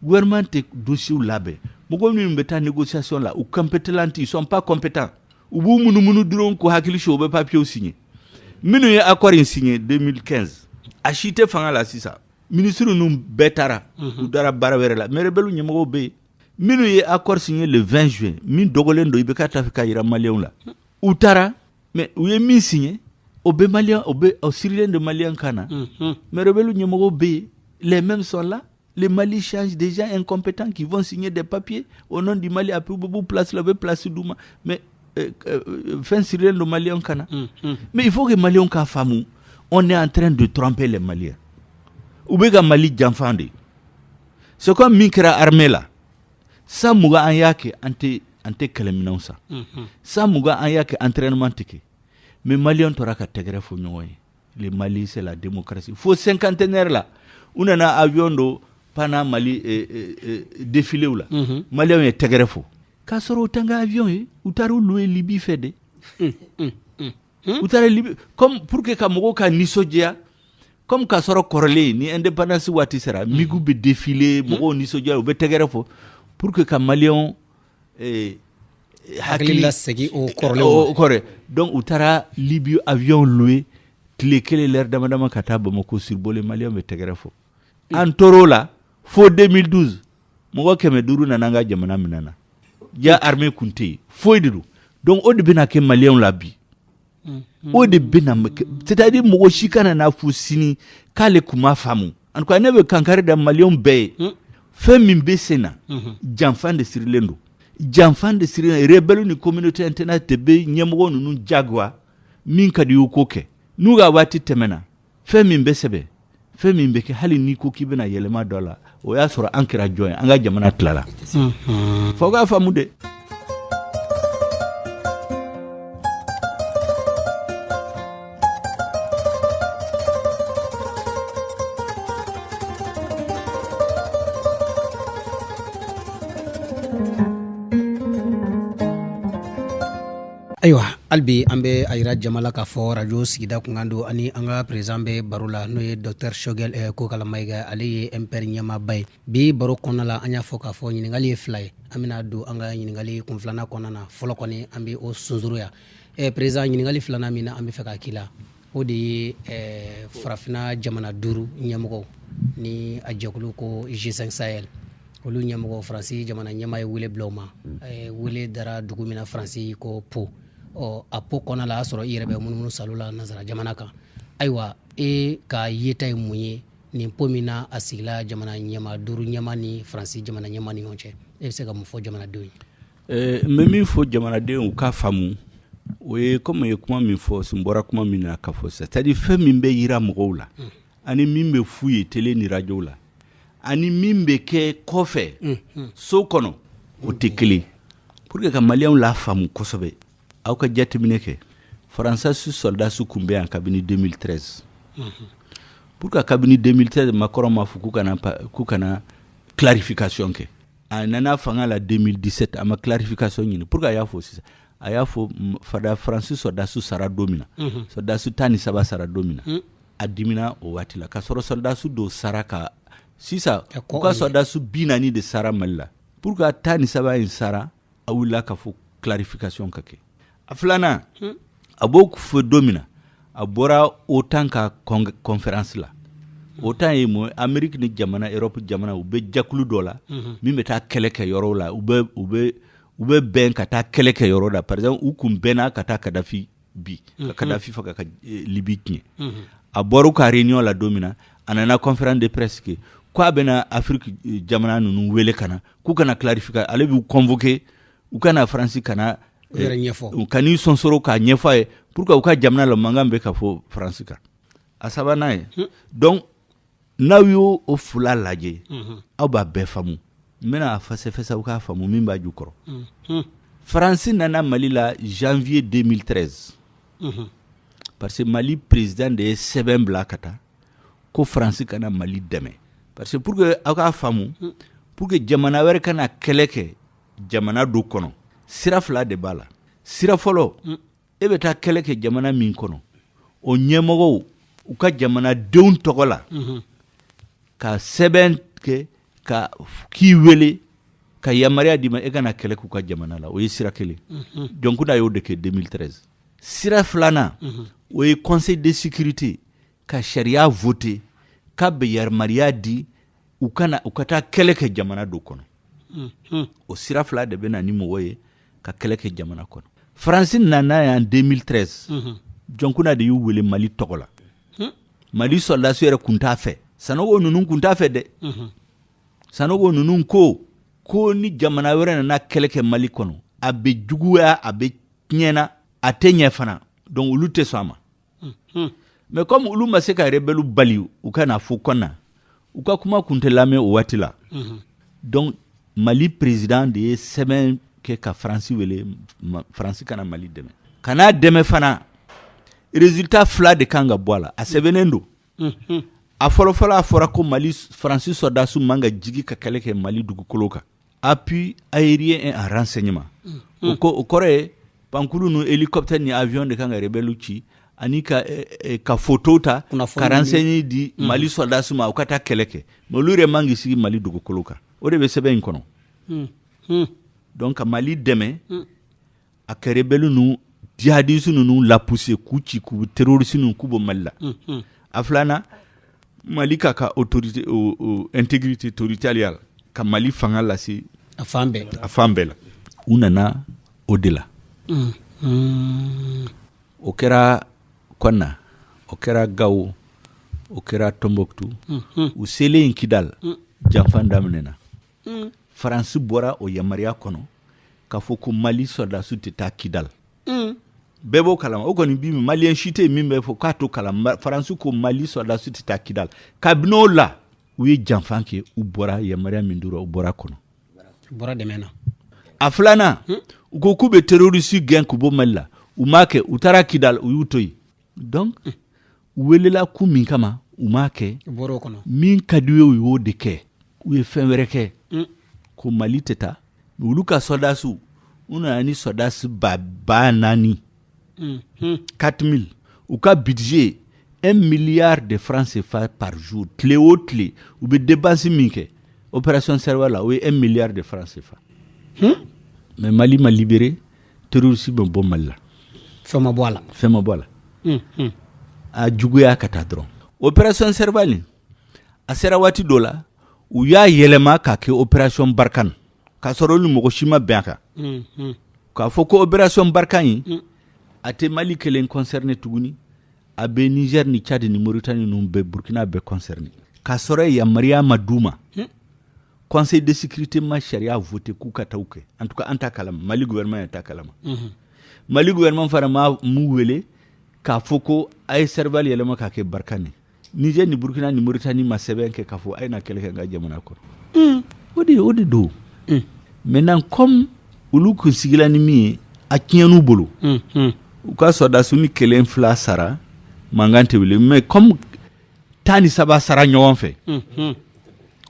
gouvernement tɛ dossiers labɛn mɔgɔ minnu bɛ taa négociation la u compétents ils sont pas compétents u b'u munumunu dɔrɔn k'u hakili suɲɛ u bɛ papiers signer minnu ye accord in signer 2015 a si tɛ fanga la sisan ministre ninnu bɛɛ taara mhm. u taara baara wɛrɛ la mais rebelles ɲɛmɔgɔw bɛ yen minnu ye accord signer le 20 juin min dogolen don IBK t'a fɛ k'a jira maliyɛnw la u taara mɛ u ye min si ye o bɛ mali o bɛ aw sirilen de mali kan na mɛbele ɲɛmɔgɔ bɛ yen lɛmɛ min sɔrɔ la le mali ssi dez n kɔnp tan k'i fɔ si ɲɛ de papiye o n di mali a p bubu plasila u bɛ plasi d' u ma mɛ fɛn sirilen don mali ka na mɛ i fɔ' mali k'a faamumu o ne y'an tɛ don tɔnpɛ la maliya u bɛ ka mali janfa de ye so min kɛra hamela san mugan an y'a kɛ an tɛ an tɛ kɛlɛminɛn san san mugan an y'a kɛ entraînement tɛ kɛ mais maliyɛn tora ka tɛgɛrɛ fɔ ɲɔgɔn ye le mali c'est la démocratie fo cinquantenaire la u nana avion dɔw pan mali défilé la maliyɛnw ye tɛgɛrɛ fɔ k'a sɔrɔ o t'an ka avion ye u taara o louer libye fɛ de u taara libye comme pour que ka mɔgɔw ka nisɔndiya comme k'a sɔrɔ kɔrɔlen ni indépendance waati sera migu bɛ défilé mɔgɔw nisɔndiya u bɛ tɛgɛrɛ fɔ pour que ka maliyɛn hakili lasegin o kɔrɔ kɔrɔ donc u taara libye avion louer tile kelen l'heure dama damama ka taa bamakɔ survoler maliyɛn bɛ tɛgɛrɛ fɔ an tora o la fo deux mille douze mɔgɔ kɛmɛ duuru nana an ka jamana minɛ an na jaa armée tun tɛ yen foyi de don donc o de bɛna kɛ maliyɛnw la bi mm-hmm. o de bɛna c'est à dire mɔgɔ si kana n'a fɔ sini k'ale tun m'a faamu en tout cas ne bɛ kankari da maliyɛnw bɛɛ ye mm. fɛn min bɛ sen na mm-hmm. janfa de sirilen don janfa de sirilen rebelle ni communauté internationale de bɛ ɲɛmɔgɔ ninnu jagoya min ka di u y'u k'o kɛ n'u ka waati tɛmɛna fɛn min bɛ sɛbɛn fɛn min bɛ kɛ hali n'i ko k'i bɛna yɛlɛma dɔ la o y'a sɔrɔ an kɛra jɔn ye an ka jamana tilala fo k'a faamu de ayiwa hali bi an bɛ a yira jama la k'a fɔ arajo sigida kunkan don ani an ka président bɛ baro la n'o ye docteur choguel eh, kokala mayiga ale ye mpr ɲɛmaaba ye bi baro kɔnɔna la an y'a fɔ k'a fɔ ɲininkali ye fila ye an bɛna don an ka ɲininkali kun filanan kɔnɔna na fɔlɔ kɔni an bɛ o sunsuruya eh, président ɲininkali filanan min na an bɛ fɛ k'a k'i la o de ye eh, farafinna jamana duuru ɲɛmɔgɔw ni a jɛkulu ko g5 sahel olu ɲɛmɔgɔ faransi jamana ɲɛmaa ye wele bila u ma mm. eh, wele dara dugu min na faransi ko pau ɔ a pau kɔnɔna la a y'a sɔrɔ i yɛrɛ bɛ munumunu salo la nansara jamana kan ayiwa e ka yeta ye mun ye nin pau min na a sigila jamana ɲɛmaa duuru ɲɛmaa ni faransi jamana ɲɛmaa ni ɲɔgɔn cɛ e bɛ se ka mun fɔ jamanadenw ye Ɛɛ n bɛ min fɔ jamanadenw k'a faamu o ye comme n ye kuma min fɔ n bɔra kuma min na ka fɔ sisan c'est à dire fɛn min bɛ yira mɔgɔw la ani min bɛ f'u ye tele ni radio la ani min bɛ kɛ kɔfɛ so kɔnɔ o tɛ kelen pour que ka maliyɛnw lafaamu kosɛbɛ aw ka jateminɛ kɛ faransi sɔ sɔrɔdasi kun bɛ yan kabini 2013 pourquoi kabini 2013 macron m'a fɔ k'u ka na k'u ka na clarification kɛ a nana fanga la 2017 a ma clarification ɲini pourquoi a y'a fɔ sisan a y'a fɔ fada faransi sɔrɔdasiw sara don min na mhm. sɔrɔdasiw tan ni saba sara don min na mm. a dimina o waati la k'a sɔrɔ sɔrɔdasiw dɔw sara ka sisan u ka sɔrɔdasiw bi naani de sara mali la pourquoi tan ni saba in sara a wulila k'a fɔ clarification ka kɛ a filanan hmm. a b'o fɔ don min na a bɔra otan ka conférence la hmm. otan ye mun ameriki ni jamana europe jamana u bɛ jakulu dɔ la hmm. min bɛ taa kɛlɛ kɛ yɔrɔw la u bɛ u bɛ u bɛ bɛn ka taa kɛlɛ kɛ yɔrɔ la par exemple u kun bɛnna ka taa kadafi bin ka kadafi faga ka eh, libi tiɲɛ a bɔr'u ka réunion la don min na a nana conférence de presse kɛ ko a bɛna afiriki eh, jamana ninnu wele ka na k'u ka na clarification ale b'u convoquer u ka na faransi ka na eh, u ka n'i sɔnsɔrɔ k'a ɲɛfɔ a ye pourquoi u ka jamana la mankan bɛ ka fɔ faransi kan a sabanan ye hmm. donc n'aw y'o o fila lajɛ hmm. aw b'a bɛɛ faamu n bɛna a fɛsɛfɛsɛ aw k'a faamu min b'a jukɔrɔ hmm. faransi nana mali la janvier 2013 parce que mali président de ye sɛbɛn bila ka taa ko faransi ka na mali dɛmɛ parce que pour que aw k'a faamu pour que jamana wɛrɛ ka na kɛlɛ kɛ jamana dɔ kɔnɔ sira fila de b'a la sira fɔlɔ mm. e bɛ taa kɛlɛ kɛ jamana min kɔnɔ o ɲɛmɔgɔw u ka jamanadenw tɔgɔ la mm-hmm. ka sɛbɛn kɛ ka k'i wele ka yamaruya d'i ma e ka na kɛlɛ k'u ka jamana la o ye sira kelen mm-hmm. dioncounda y'o de kɛ 2013 sira filanan mm-hmm. o ye conseil de sécurité ka sariya voter k'a bɛ yamaruya di u ka na u ka taa kɛlɛ kɛ jamana dɔ kɔnɔ mhm. o sira fila de bɛ na ni mɔgɔ ye ka kɛlɛ kɛ jamana kɔnɔ faransi nana yan 2013 mhm. dioncounda de y'u wele mali tɔgɔ la mhm. mali sɔrɔdasi yɛrɛ kun t'a fɛ sanogo ninnu kun t'a fɛ dɛ sanogo ninnu ko ko ni jamana wɛrɛ nana kɛlɛ kɛ mali kɔnɔ a bɛ juguya a bɛ tiɲɛna a tɛ ɲɛ fana donc olu tɛ sɔn a ma mais comme olu ma se ka rebɛliw bali u ka na fo kɔnna u ka kuma kun tɛ lamɛn o waati la donc mali président de ye sɛbɛn kɛ ka faransi wele faransi ka na mali dɛmɛ ka n'a dɛmɛ fana résultat fila de kan ka bɔ a la a sɛbɛnnen don a fɔlɔfɔlɔ a fɔra ko mali faransi sɔrɔdasiw man ka jigi ka kɛlɛ kɛ mali dugukolo kan appui aérien et en renseignement mm. ok o kɔrɔ ye pankurun nu hélicoptère ni avion de kan ka rebelle ci ani ka eh, eh, ka photo ta ka renseigner di mm. mali soldats ma u ka taa kɛlɛ kɛ mais olu yɛrɛ man k'i sigi mali dugukolo kan o de bɛ sɛbɛn in kɔnɔ mm. donc ka mali dɛmɛ a ka rebelle ninnu jihadiste ninnu lapousser k'u ci k'u terroriste nu k'u bɔ mali la a filanan mali k'a ka autorité intégrité territoriale ka mali fanga lase a fan a fan bɛɛ la u nana o de la o kɛra konna o kɛra gawo o kɛra tombouctou u selen in kidal janfa daminɛna mm. faransi bɔra o yamaruya kɔnɔ k'a fɔ ko mali sɔrɔdasiw tɛ taa kidal mm. bɛɛ b'o kalama o kɔni bi maliyɛn si tɛ yen min bɛ fɔ k'a t'o kalama faransi ko mali sɔrɔdasiw tɛ taa kidal kabini o la u ye janfa kɛ u bɔra yamaruya min dira u bɔra kɔnɔ bɔra dɛmɛ na a filanan hmm? u ko k'u bɛ terorisi gɛn k'u bɔ mali la u m'a kɛ u taara kidal u y'u to yen donc hmm. welela kun min kama u m'a kɛ min ka d'u ye u y'o de kɛ u ye fɛn wɛrɛ kɛ mm. ko mali tɛ taa olu ka sɔrɔdasiw u nana ni sɔrɔdasi ba ba naani mm, mm. quatre mille u ka budget un milliard de francs CFA par jour tile o tile u bɛ dépense min kɛ opération Serval la o ye un milliard de francs CFA mais mali ma libéré terroriste ma bɔ Mali la fɛn ma bɔ a la fɛn ma bɔ a la unhun a juguya ka taa dɔrɔn opération Serval in a sera waati dɔ la u y'a yɛlɛma k'a kɛ opération Barkhane k'a sɔrɔ olu mɔgɔ si ma bɛn a kan unhun k'a fɔ ko opération Barkhane in mm. a tɛ Mali kelen concerné tuguni a bɛ Niger ni Tchad ni Mauritanie ninnu bɛɛ Burkina bɛɛ concerné k'a sɔrɔ yamaruya ma d'u ma mm. conseil de sécurité ma sariya voter k'u ka taa kɛ en tout cas an t'a kalama mali gouvernement t'a kalama mhm. mali gouvernement fana m'u wele k'a fɔ ko a ye Serval yɛlɛma k'a kɛ Barkhane niger ni burkina ni mauritanie ma sɛbɛn kɛ k'a fɔ a ye na kɛlɛ kɛ n ka jamana kɔnɔ mm. o de o de don mm. maintenant comme olu kun sigila ni min ye a tiɲɛn'u bolo mm, u ka sɔrɔdasiw ni kelen fila sara mankan tɛ wuli mais comme tan ni saba sara ɲɔgɔn fɛ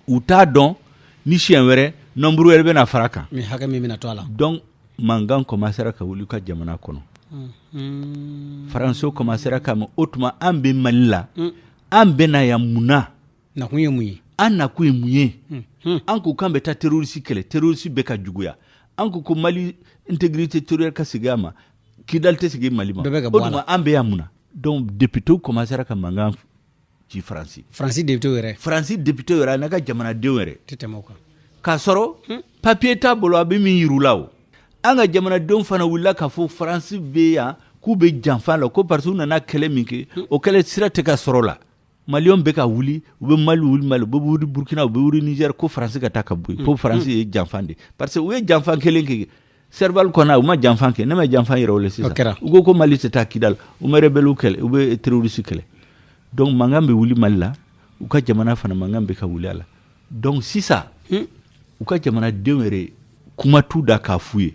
u t'a dɔn ni siɲɛ wɛrɛ nombre wɛrɛ bɛna far'a kan hakɛ min bɛna to a la donc mankan commencéra ka wuli u ka jamana kɔnɔ faransɛw commencéra ka ma o tuma an bɛ mali la an bɛna yan mun na nakun ye mun ye an nakun ye mun ye an ko k'an bɛ taa terroriste kɛlɛ terroriste bɛ ka juguya an ko ko mali intégrité territoriale ka segin a ma kidal tɛ segin mali ma o an bɛ yan mun Donc députéw commencera ka mankan ci faransi faransi député yɛrɛ faransi député yɛrɛ a n'a ka jamanadenw yɛrɛ te kan k'a sɔrɔ papiye t'a bolo a bɛ min yir'u la o an ka jamanadenw fana wulila k'a fɔ faransi bɛ yan k'u bɛ janfa la ko parce que u nana kɛlɛ min kɛ o kɛlɛ sira tɛ ka sɔrɔ la Malienw bɛ ka wuli u bɛ mali wuli mali u bɛ wuli burukina u bɛ wuli Niger ko faransi ka taa ka bɔ yen ko faransi ye janfa de parce que u ye janfa kelen kɛ Serval kɔnɔ u ma janfa kɛ ne ma janfa yɛrɛ o sisan kɛra u ko ko mali tɛ taa Kidal u tɛ rebelle kɛlɛ u bɛ terroriste kɛlɛ donc mankan bɛ wuli mali la u ka jamana fana mankan bɛ ka wuli a la donc sisan u ka jamanadenw yɛrɛ kuma t'u da k'a f'u ye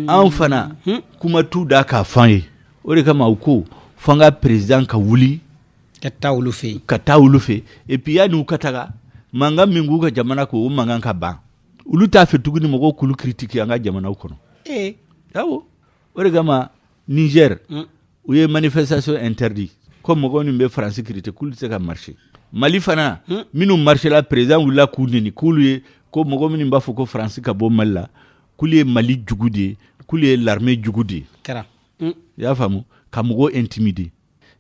an fana kuma t'u da k'a f'an ye o de kama u ko f'an ka président ka wuli ka taa olu fɛ ka taa olu fɛ et puis yanni u ka taga mankan min b'u ka jamana ko o mankan ka ban olu t'a fɛ tuguni mɔgɔw k'olu critiquer an ka jamanaw kɔnɔ o de kama Niger mm. u ye manifestation interdit ko mɔgɔ min bɛ France critiquer k'olu tɛ se ka marcher Mali fana mm. minnu marchera président wulila k'u neni k'olu ye ko mɔgɔ minnu b'a fɔ ko France ka bɔ Mali la k'olu ye Mali jugu de ye k'olu ye l'armée jugu de ye mm. i y'a faamu ka mɔgɔw intimider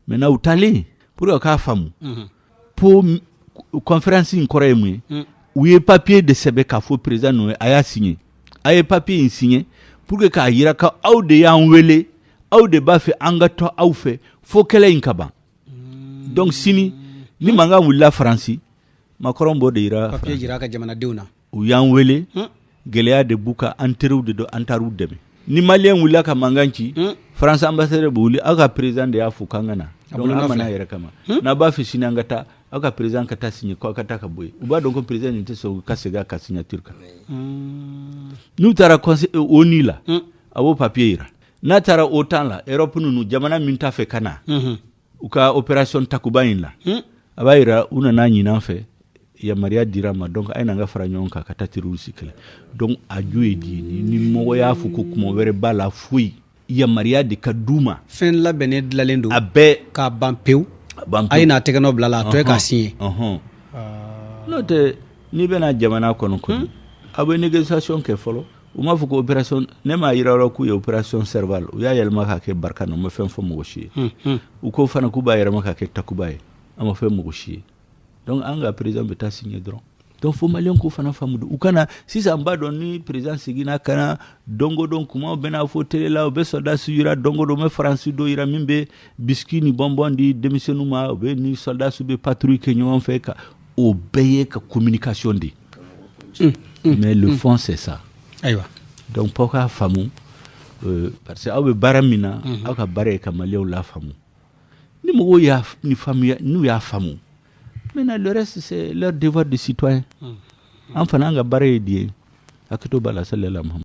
Maintenant u taalen pour que k'a faamu Pau conférence in kɔrɔ ye mun ye u ye papiye de sɛbɛn k'a fɔ président ninnu ye a y'a signer a ye papiye in signer pour que k'a jira ko aw de y'an wele aw de b'a fɛ an ka to aw fɛ fo kɛlɛ in ka ban donc sini ni mankan wulila faransi Macron b'o de jira jira ka jamanadenw na u y'an wele gɛlɛya de b'u kan an teriw de don an taar'u dɛmɛ ni malien wulila ka mankan ci France ambassadeur bɛ wuli aw ka président de y'a fɔ k'an ka na an ma n'an yɛrɛ kama n'a b'a fɛ sini an ka taa aw ka président ka taa signer ko aw ka taa ka bɔ u b'a dɔn ko président nin tɛ sɔn ka segin a ka signature kan n'u taara ONU la a b'o papiye jira n'a taara OTAN la Europe ninnu jamana min t'a fɛ ka na u ka opération takuba in la hmm? a b'a yira u nana ɲin'an fɛ yamaruya dir'an ma donc a ye n'an ka fara ɲɔgɔn kan ka taa terroriste kɛlɛ donc a ju ye di ni mɔgɔ y'a fɔ ko kuma wɛrɛ b'a la foyi yamaruya de ka d'u ma fɛn labɛnnen dilalen don a bɛɛ k'a ban pewu a ye n'a tɛgɛnɔ bila la a tɔ ye k'a signer n'o tɛ n'i bɛna jamana kɔnɔ kɔni hmm? aw bɛ négociation kɛ fɔlɔ u m'a fɔ ko opération ne m'a jira yɔrɔ k'u ye opération serval u y'a yɛlɛma k'a kɛ Barkhane u ma fɛn fɔ mɔgɔ si ye hmm, hmm. u ko fana k'u b'a yɛlɛma k'a kɛ takuba ye a ma fɛn mɔgɔ si ye donc an ka président bɛ taa signer dɔrɔn donc fo maliyɛn k'o fana faamu u kana sisan b'a dɔn ni président seginna ka na don o don kumaw bɛna fɔ tele la u bɛ sɔrɔdasi yira don o don u bɛ faransi dɔ yira min bɛ bisiki ni bɔnbɔn di denmisɛnninw ma u bɛ ni sɔrɔdasi bɛ patrouille kɛ ɲɔgɔn fɛ ka o bɛɛ ye ka communication de ye mais le fond c'est ça ayiwa donc fɔ k'a faamu euh, parce que aw bɛ baara min na mhm. aw ka baara ye ka maliyɛnw lafaamu ni mɔgɔw y'a ni faamuya n'u y'a faamu maintenant le reste c'est leur devoir de citoyen mhm. an fana an ka baara ye diɲɛ hakɛto b'a la sali ala muhamadu